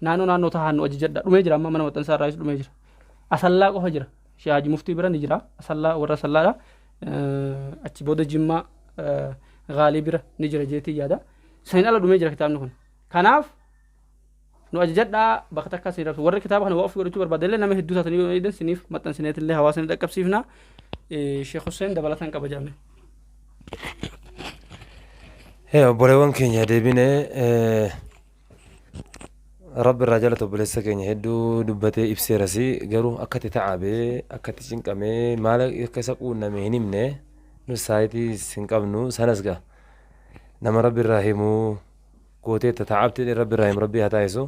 Naannoo naannoo tahaa nu ajajadha. Dhumee jira amma mana maxxansaa irraayis dhumee jira. Asallaa qofa jira. Shee Haaji Muftii bira ni jira. Asallaa warra Asallaadha. Achi booda Jimmaa Gaalii bira ni jira jeetii yaada. Saniin ala dhumee jira kitaabni kun. Kanaaf nu ajajadhaa bakka takka isin rabsu. Warri kitaaba kana waqfii godhachuu barbaade illee nama hedduu taatanii yoo eedan siniif maxxansineet illee hawaasa ni dhaqqabsiifna. Sheekh Hussein dabalataan qaba jedhame. Obboleewwan keenya deebinee Rabbi irraa jalatu obboleessa keenya hedduu dubbatee ibseerasi garuu akka itti ta'aabee akka itti cinqamee maal akka isa quunname hin himne nus saayitiis hin qabnu sanas gaa nama rabbi irraa himuu gootee itti ta'aabtiin rabbi irraa himu rabbi haa taasisu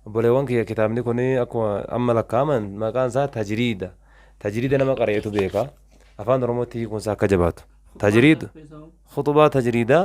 obboleewwan kiyya kitaabni kun akkuma amma lakkaa'aman maqaan isaa tajiriida tajiriida nama qareetu beeka afaan oromootti hiikuun isaa akka jabaatu tajiriid khutubaa tajiriidaa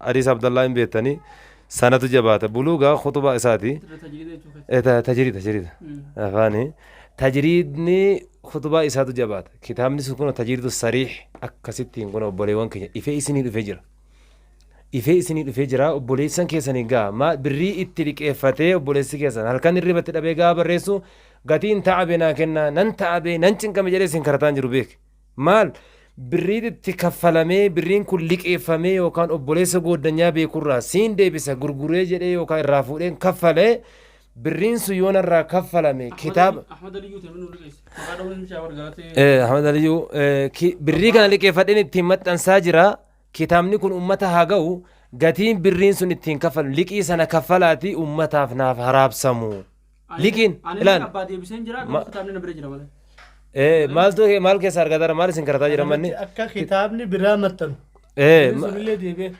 Hadiisa Abdallaa hin beektanii sanatu jabaata buluugaa khutubaa isaati Irra tajriida jechuu keessa. Eh, ta- tajriid tajriid afaani tajriidni khutubaa isaatu jabaata kitaabni sun kun tajriidu sariix akkasittiin kun obboleewwan keenya ifee isinii dhufee jira ifee isinii dhufee jira obboleessan keessanii gaa maa birrii itti liqeeffatee obboleessi keessan halkan irribatti dhabee gaa barreessu gatiin ta'abee naa kennaa nan ta'abee nan cinqame jedhee isin karataan jiru beek Maal birriin itti kaffalamee birriin kun liqeeffamee yookaan obboleessa gooddanyaa beekurraa siin deebisa gurguree jedhee yookaan irraa fuudheen kaffale birriin sun yoo narraa kaffalame kitaaba Ahmad Aliyyuu ta'e minuu liqeesse. Maqaa dhawuun ilmi shaawar galatee. Eh, Ahmad Aliyyuu eh, ki- birrii kana liqeeffadheen ittiin maxxansaa jira kitaabni kun ummata haa ga'u gatiin birriin sun ittiin kaffalu liqii sana kaffalaatii ummataaf naaf haraabsamu. Ani- Likiin, ani ilaali. abbaa deebiseen jira Ma- garuu kitaabni na bira jira malee Ee, maaltu maal keessa argatara maal isin kadhataa jira manni Kanatti akka kitaabni biraa maxxanu ee Birri ma- sunillee deebi'ee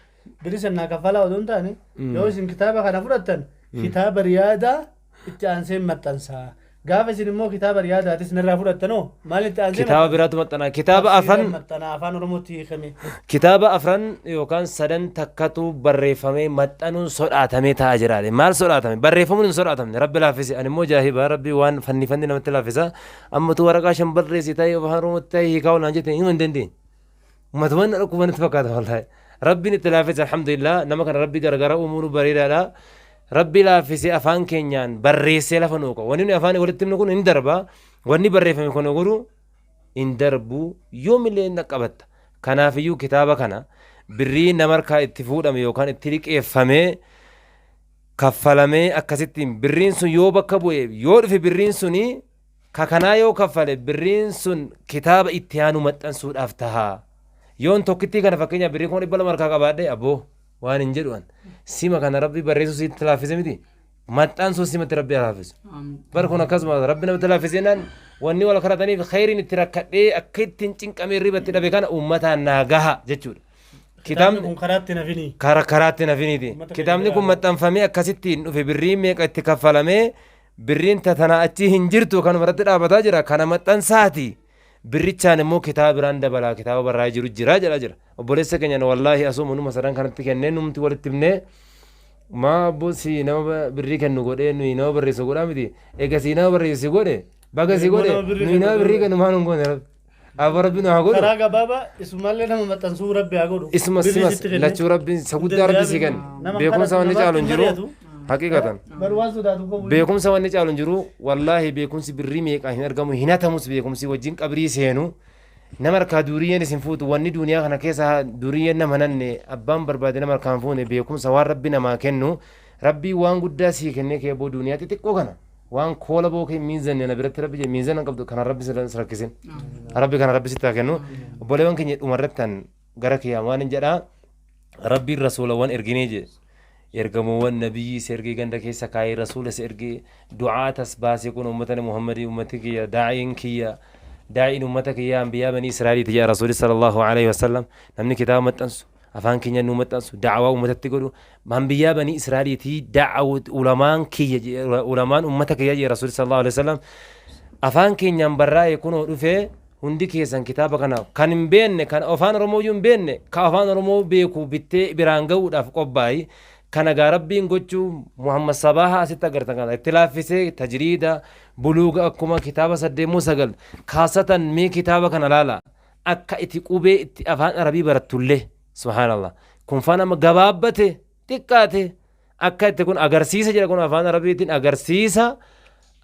birri sannaa kaffalaa odoo hin taane yoo isin kitaaba kana fudhattan kitaaba riyaadaa itti aanseen maxxansaa gaafa isin immoo kitaaba riyaadaatis narraa fudhattanoo Maalitti aansee Kitaaba maxxana? biraatu maxxana. Kitaaba Tafsiira afran maxxana afaan Oromootti hiikame. kitaaba afran yookaan sadan takkatu barreeffamee maxxanuun sodhaatamee taa'aa jiraale. Maal sodhaatame? Barreeffamuun hin sodhaatamne. Rabbi laaffise. Ani immoo jaahibaa rabbi waan fanni fanni namatti laaffisa. Amma utuu waraqaa shan barreessi ta'ee afaan Oromootti ta'ee hiikaa olaan jette hima hin dandeenye. Matumaan na dhukkuba natti fakkaata wallaahi. Rabbiin itti laaffise alhamdulillah nama kana rabbi gargara uumuun bareedaadha. Rabbi laaffise afaan keenyaan barreessee lafa nuuqa. Wanni nuyi afaan walitti himnu kun hin darba. Wanni barreeffame kun guru hin darbu yoomillee hin dhaqqabatta. Kanaafiyyuu kitaaba kana birrii namarkaa itti fuudhame yookaan itti liqeeffamee kaffalamee akkasittiin birriin sun yoo bakka bu'eef yoo dhufe birriin sunii ka kanaa yoo kaffale birriin sun kitaaba itti aanu maxxansuudhaaf taha. Yoon tokkittii kana fakkeenyaaf birrii kuma dhibba lama harkaa qabaadhe aboo waan hin jedhu an. Sima kana rabbi barreessuu sitti laaffise miti. Maxxansuu simatti rabbi haa laaffisu. Bar kun akkasuma rabbi namatti laaffiseenaan wanni wal karataniif kheyriin itti rakkadhee akka ittiin cinqamee riba itti dhabe kana uummataan naa gaha jechuudha. Kitaabni kun karaatti na fini. karaa karaatti nafiniiti. Uummata Kitaabni kun fayyadamaa. maxxanfamee akkasitti hin dhufe birrii meeqa itti kaffalamee Birriin ta tanaa achii hin jirtu kanuma irratti dhaabataa jira kana maxxansaati birrichaan immoo kitaaba biraan dabalaa kitaaba barraa'ee jiru jira jedhaa jira obboleessa keenya nu wallaahi asuma numa sadan kanatti kennee numti walitti himnee maa abboo si nama ba- birrii kennu godhee nuyi nama barreessu godhaa miti egaa si nama barreessu si godhe baga si Immoo godhe nama birrii nuyi kennu nama birrii godhe. kennu maa nun goone rabbi Abba rabbi nu haa godhu. Karaa gabaabaa isumallee nama maxxansuu rabbi haa godhu. Isuma Birrii simas sitti kenne. lachuu rabbiin isa guddaa rabbi si kenna. Nama Beekumsa kadhatu, wanni nama caalu hin ittiin jiru. mari'atu. Haqiqatan. Bar waan sodaatu qabu. Beekumsa wanni caalu hin jiru. Wallaahi beekumsi birrii meeqaan hin argamu hin hatamus beekumsi wajjin qabrii seenu. Nama harkaa duriyyeen isin fuutu wanni duniyaa kana keessa duriyyeen nama nanne abbaan barbaade nama harkaan fuune beekumsa waan rabbi namaa kennu rabbii waan guddaa sii kennee kee boo duniyaa xixiqqoo kana. Waan koolaboo kee miizanni ana biratti rabbi jedhe miizana hin qabdu kana rabbi si si rakkisin. Rabbi kana rabbi sitti haa kennu. Obboleewwan keenya dhuma irrattan gara kiyaan waan hin jedhaa rabbiin rasuulawwan erginee jedhe. Ergamoowwan nabiyyii si ergee ganda keessa kaayee rasuula si ergee du'aatas baasee kun uummatani Muhammadii uummati kiyya daa'iin kiyya daa'iin uummata kiyya anbiyyaa banii Israa'eliiti jedha rasuuli sallallahu alaihi wasallam namni kitaaba maxxansu afaan keenyaan nuu maxxansu da'awaa uummatatti godhu man biyyaa banii israa'eliitii da'awu ulamaan kiyya je- ula- ulamaan uummata kiyya jee rasuulli sallallahu alaihi wasallam afaan keenyaan barraa'e kunoo dhufee hundi keessan kitaaba kana kan hin beekne kan afaan oromoo iyyuu hin beekne kan afaan oromoo beeku bittee biraan ga'uudhaaf qophaa'i kana gaa rabbiin gochuu muhammad sabaaha asitti agartan kana itti laaffisee tajriida buluuga akkuma kitaaba saddeemuu sagal kaasatan mee kitaaba kana laala akka iti qubee itti afaan arabii barattullee subhaanallah kun faan amma gabaabbate xiqqaate akka itti kun agarsiisa jedha kun afaan arabiitiin agarsiisa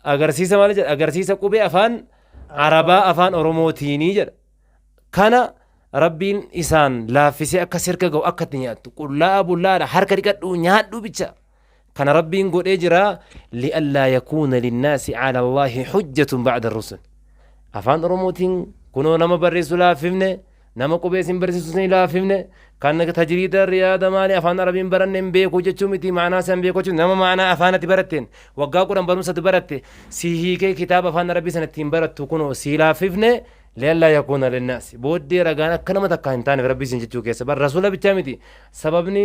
agarsiisa maal jedha agarsiisa qubee afaan arabaa afaan oromootiinii jedha kana rabbiin isaan laaffisee akka sirka ga'u akka itti nyaattu qullaa bullaadha harka dhiqadhu nyaadhu bicha Kana Rabbiin godhee jira li'allaa yakuuna linnaasi caala Allaahi xujjatun bacda rusul. Afaan Oromootiin kunoo nama barreessu laaffifne, nama qubee isin barsiisu isin laaffifne, kan tajriida riyaada maali afaan Arabiin baranne hin beeku jechuu miti maanaa san beeku jechuun nama maanaa afaan ati baratteen waggaa kudhan barumsa ati baratte si hiikee kitaaba afaan Arabii sana ittiin barattu kunoo si laaffifne li'allaa yakuuna linnaasi booddee ragaan akka nama takkaa hin taaneef rabbii isin jechuu keessa bar rasuula bichaa miti sababni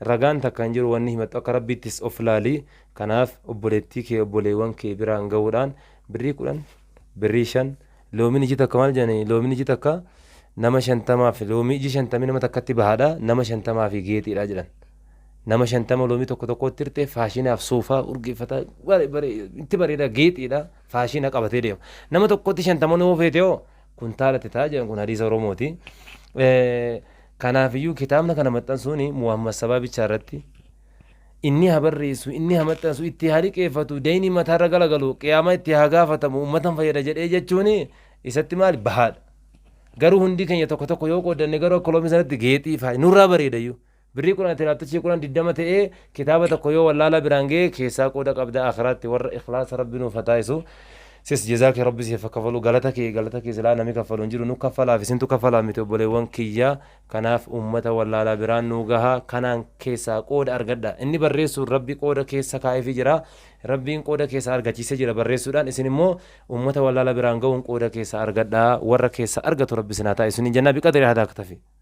Ragaan takka hin jiru wanni himattu akka Rabbiittis of laali kanaaf obboleettii kee obboleewwan kee biraan gahuudhaan birrii kudhan birrii shan loomiin iji takka maal jedhanii loomiin iji takka nama shantamaaf loomii iji shantamii nama takkatti bahaadha nama shantamaa fi geexiidha jedhan nama shantama loomii tokko tokkotti hirtee faashinaaf suufaa urgeeffataa bare- bare- itti bareeda geexiidha faashina qabatee deema nama tokkotti shantama nama feete hoo kuntaala itti ta'a jedhan kun hadiisa Oromooti. Kanaafiyyuu kitaabna kana maxxansuun Muhammad sabaa bichaa irratti inni haa barreessu inni haa maxxansu itti haa liqeeffatu deeyni mataarra galagalu qiyaamaa itti haa gaafatamu uummatan fayyada jedhee jechuun isatti maali bahaadha. Garuu hundi keenya tokko tokko yoo qoodanne garuu akka loomii sanatti geexii faaya nurraa bareedayyuu. Birrii kudhan ati laattachii kudhan digdama ta'ee kitaaba tokko yoo wallaalaa biraan ga'e keessaa qooda qabda akhiraatti warra ikhlaasa rabbi nuuf haa taasisu sis jazaa kee rabbi siif haa kaffalu galata kee galata kee silaa namni kaffalu hin jiru nu kaffalaaf isintu kaffalaaf miti obboleewwan kiyya kanaaf ummata wallaalaa biraan nuu gaha kanaan keessaa qooda argadha inni barreessuun rabbi qooda keessa kaa'eefii jira rabbiin qooda keessa argachiisee jira barreessuudhaan isin immoo ummata wallaalaa biraan ga'uun qooda keessa argadha warra keessa argatu rabbi isin haa taasisu ni jennaa biqadri hadaa katafi.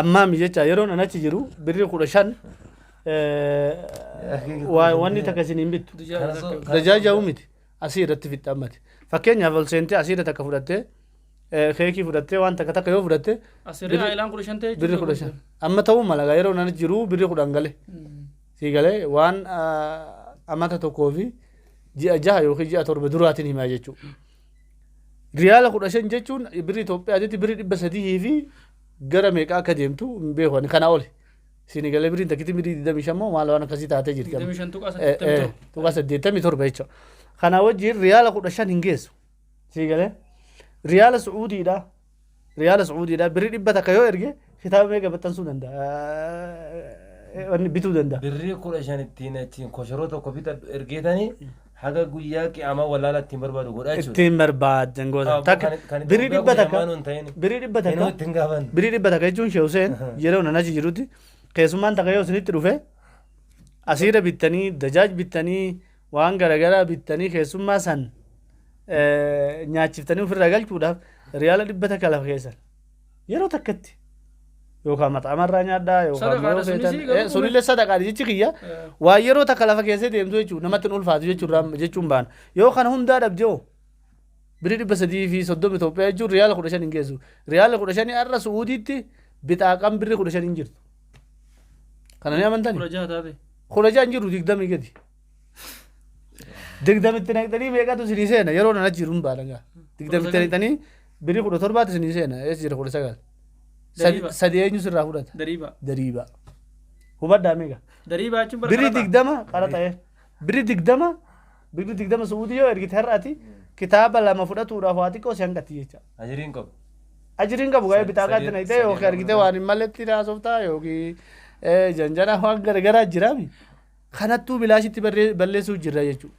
Ammaami jecha yeroon an achi jiru birri kudha shan waa- wanni takka isin hin bittu. Dajaaja miti asii irratti fixxan mati. Fakkeenyaaf ol seentee asii irra takka fudhattee eh, keekii fudhattee waan takka takka yoo fudhatte Asirri Birri- ayilaan kudha shan ta'e birri kudha shan. Amma ta'uu malagaa yeroo nan jiru birri kudhan gale. Sii galee waan ah, amata tokkoo fi ji'a jaha yookiin ji'a torba duraatiin himaa jechuudha. Riyaala kudha shan jechuun birri Itoophiyaatitti birri dhibba sadihii fi gara meeqaa akka deemtu hin beeku ani kana oli. Isin galee birriin takkitti birrii digdamii shan moo maal waan akkasii taatee jirti. amma. 25 tuqaa Eh, eh, 87. tuqaa saddeettamii torba jechuudha. Kana wajjin riyaala kudha shan hin geessu. Sii galee riyaala Su'uudiidha. Riyaala Su'uudiidhaa birri dhibba takka yoo erge kitaaba meeqa maxxansuu danda'a? Wanni bituu danda'a? Birrii kudha shan ittiin achiin koshoroo tokko bitadhu ergeetanii haga guyyaa qiyaamaa wallaala ittiin barbaadu godha jechuudha. Ittiin barbaaddan goota. Abbo Takka kan- kan birri Itoophiyaa dhibba kun takka yammaan hin ta'in. birri dhibba Inuu takka ittiin gaafan. birri dhibba takka jechuun Sheekh Huseen yeroo nan achi jirutti keessummaan takka yoo isinitti dhufe asiira bittanii dajaaj bittanii waan garagaraa bittanii keessummaa san nyaachiftanii ofirraa galchuudhaaf riyaala dhibba takka lafa keessan yeroo takkatti yookaan maxxamarraa nyaadhaa yookaan Sadaqaadha yoo sunis feetan garuu eh, sunillee sadaqaadha jechi kiyya waa yeroo takka lafa keessee deemtu jechuudha namatti hin ulfaatu jechuudha jechuun baana yoo kana hundaa dhabdee hoo birii dhibba sadii fi soddoma Itoophiyaa jechuun riyaala kudha shan hin geessu riyaala kudha shanii har'a su'uudiitti bitaaqaan birri kudha shan hin jirtu kana ni amantani kudha jaha taate. kudha jahan jiru digdamii gadi digdamitti naqxanii meeqatu isinii seena yeroo nan achi jiru hin baalan gaa digdamitti sagal. naqxanii birii kudha torbaatu isinii seena ees jira kudha sagal Sadi- Dariiba. sadi eenyu sirraa fudhata Dariibaa. dariibaa hubadhaa meeqa Dariibaa jechuun bara birii kalataa. digdama qara ta'e birii digdama Birri digdama su'uudii yoo ergite har'ati kitaaba lama fudhatuudhaaf waa xiqqoo si hanqatti jecha. Ajiriin qabu. Ajiriin qabu gaa'ee bitaaqaatti na hidhee yookiin argitee waan hin malletti naasoftaa yookiin janjanaa waan garagaraa jiraami. Kanattuu bilaashitti balleessuu jirra jechuudha.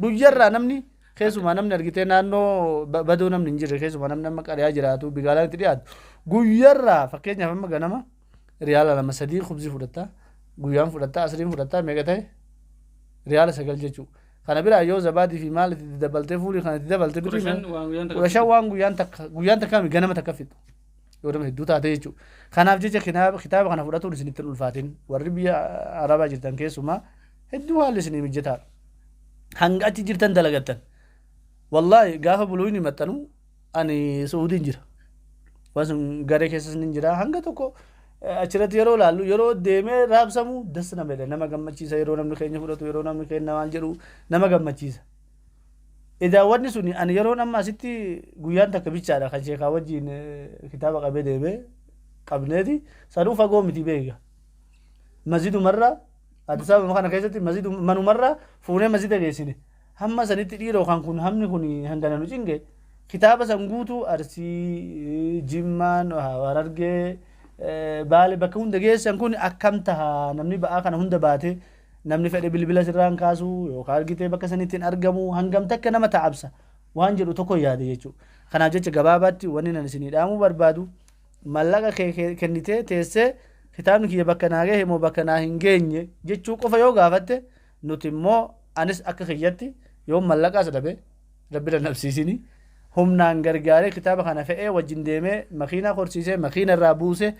Guyyarraa namni keessumaa namni argitee naannoo badoo namni hin jirre keessumaa namni amma qariyaa jiraatu bigaalaan itti dhiyaatu guyyarraa fakkeenyaaf amma ganama riyaala lama sadii khubzii fudhatta guyyaan fudhatta asriin fudhatta meeqa ta'e riyaala sagal jechuu kana biraa yoo zabaadii fi maal itti dabaltee fuulii kana itti dabalte kudha shan waan guyyaan takka kudha shan waan guyyaan takka guyyaan takka mi ganama takka fixu yoo nama hedduu taate jechuudha. Kanaaf jecha kitaaba kitaaba kana fudhatuun isin ittiin ulfaatin warri biyya arabaa jirtan keessumaa hedduu haalli isinii mijjataadha. Hanga achi jirtan dalagattan. Wallaahi gaafa buluu hin himattanu ani su'uudiin jira waan sun garee keessas nin jira hanga tokko eh, achirratti yeroo laallu yeroo deemee raabsamu das nama jedha nama gammachiisa yeroo namni keenya fudhatu yeroo namni keenya maal jedhu nama gammachiisa edaa wanni sun ani yeroon amma asitti guyyaan takka bichaadha kan sheekaa wajjiin eh, kitaaba qabee deemee qabneeti sanuu fagoo miti beeka masjidumarraa Addis Ababa kana keessatti masjidu manumarraa fuunee masjida geessine Hamma sanitti dhiiroo kan kun hamni kun hangana nu cinge kitaaba san guutuu Arsii, Jimmaan, Harargee, Baale bakka hunda geessan kun akkam taha namni ba'aa kana hunda baate namni fedhe bilbila sirraan kaasu yookaan argitee bakka sanitti hin argamu hangam takka nama ta'absa waan jedhu tokko yaade jechuudha. Kanaaf jecha gabaabaatti wanni nan isinii dhaamuu barbaadu mallaqa kee kennitee teessee kitaabni kiyya bakka naa gahe moo bakka naa hin geenye jechuu qofa yoo gaafatte Nuti immoo anis akka kiyyatti yoon mallaqaas dhabe rabbi na hin dhabsiisini humnaan gargaaree kitaaba kana fe'ee wajjin deemee makiinaa korsiisee makiina irraa buusee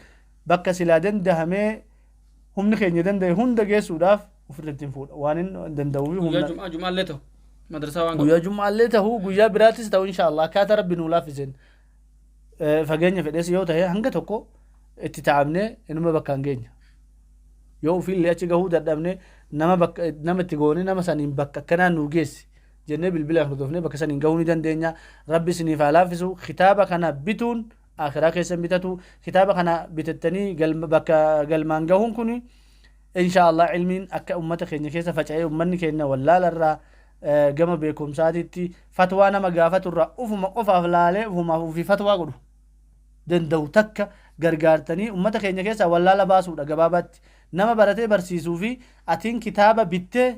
bakka silaa dandahamee humni keenya danda'e hunda geessuudhaaf ofirra ittiin fuudha waan hin danda'uu fi Guyyaa humna jum'aa jum'aallee ta'u madrasaa waan qabu. guyyaa jum'aallee ta'u guyyaa biraattis ta'u inshaallah akkaataa rabbi nuu laaffiseen fageenya fedhes yoo ta'e hanga tokko itti taa'amnee inuma bakkaan geenya. Yoo ofiillee achi gahuu dadhabne nama bakka nama itti goone nama saniin bakka akkanaa nuu geessi jennee bilbilaan hordofnee bakka saniin gahuu ni dandeenya. Rabbi isiniif haa laaffisu. Kitaaba kana bituun akiraa keessan bitatu. Kitaaba kana bitattanii galma bakka galmaan gahuun kuni inshaa Allah ilmiin akka ummata keenya keessa faca'ee ummanni keenya wallaalarraa gama beekumsaatitti fatwaa nama gaafatu irraa ufuma qofaaf laalee ufumaaf ufii fatwaa godhu danda'u takka gargaartanii ummata keenya keessaa wallaala baasuudha gabaabaatti nama baratee barsiisuu fi atiin kitaaba bittee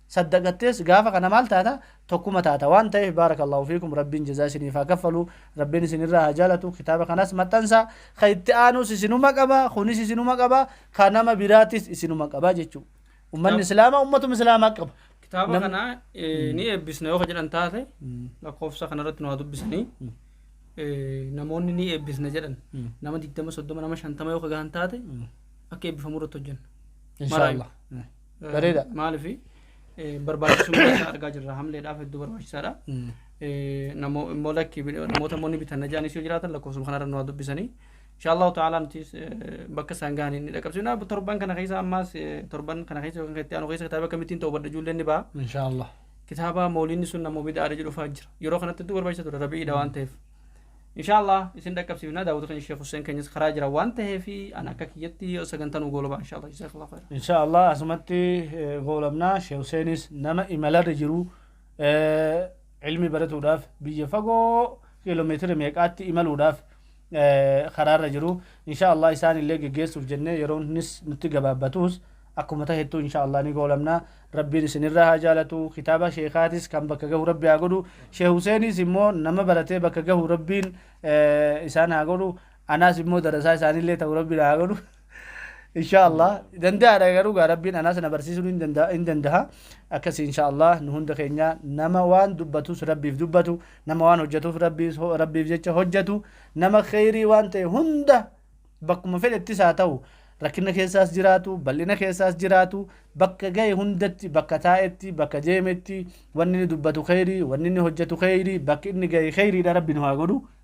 saddaqattees gaafa kana maal taata tokkuma taata waan ta'eef baarakallahu fiikum rabbiin jazaa isiniif haa kaffalu rabbiin isinirraa haa jaalatu kitaaba kanas maxxansa ka itti aanus isinuma qaba kunis isinuma qaba ka nama biraatis isinuma qaba jechuudha Ummanni Kitaab- Islaamaa ummatuma Islaamaa qaba. Kitaaba Nam- kana eh, ni eebbisna yoo ka jedhan taate lakkoofsa kanarratti nu haa dubbisanii eh, namoonni ni eebbisna jedhan nama 20 30 nama 50 yoo ka gahan taate akka eebbifamu irratti hojjenna. Inshaallah. Eh, Bareeda. Maalifi eh, barbaachisummaa isaa argaa jirra hamleedhaaf hedduu barbaachisaadha. Eh, namo- immoo lakki namoota immoo ni bitanna jedhanis yoo jiraatan lakkoofsuma kanarra nu haa dubbisanii Inshaallahu ta'ala nutis bakka isaan gahan inni dhaqqabsiifna. Torban kana keessa ammaas torban kana keessa yookiin itti aanu keessa kitaaba akkamittiin ta'u badda ijoolleen ni ba'a. Inshaallah. Kitaaba mooliinni sun ammoo bid'aadha jedhu fa'aa jira. Yeroo kanatti hedduu barbaachisa ture rabi'iidha waan ta'eef. Inshaallah isin dhaqqabsiifna daawwatu keenya Sheekh Hussein keenyas karaa jira waan ta'eef an akka kiyyatti sagantaa nu goolaba inshaallah jazakallahu khairan. Inshaallah asumatti goolabna Sheekh Hussenis nama imalarra jiru ilmi baratuudhaaf biyya fagoo kiiloomeetira meeqaatti imaluudhaaf karaarra jiru. Inshaa Allah isaanillee geggeessuuf jennee yeroon nis nutti gabaabbatuus akkuma tahettuu inshaa Allah ni goolabna. Rabbiin isinirraa haa jaalatu. Kitaaba sheekaatis kan bakka gahu Rabbi haa godhu. Sheekh Huseeniis immoo nama baratee bakka gahu Rabbiin isaan haa godhu. Anaas immoo darasaa isaanillee ta'u Rabbi na haa godhu. insha allah danda'aadha garuu gaa rabbiin anaas na barsiisuu hin danda'a hin danda'a akkasii insha allah nu hunda keenya nama waan dubbatus rabbiif dubbatu nama waan hojjetuuf rabbiif rabbiif jecha hojjetu nama kheyrii waan ta'e hunda bakkuma fedhettis haa ta'u rakkina keessaas jiraatu bal'ina keessaas jiraatu bakka ga'e hundatti bakka taa'etti bakka deemetti wanni inni dubbatu kheyrii wanni inni hojjetu kheyrii bakki inni ga'e kheyriidha rabbi nu haa godhu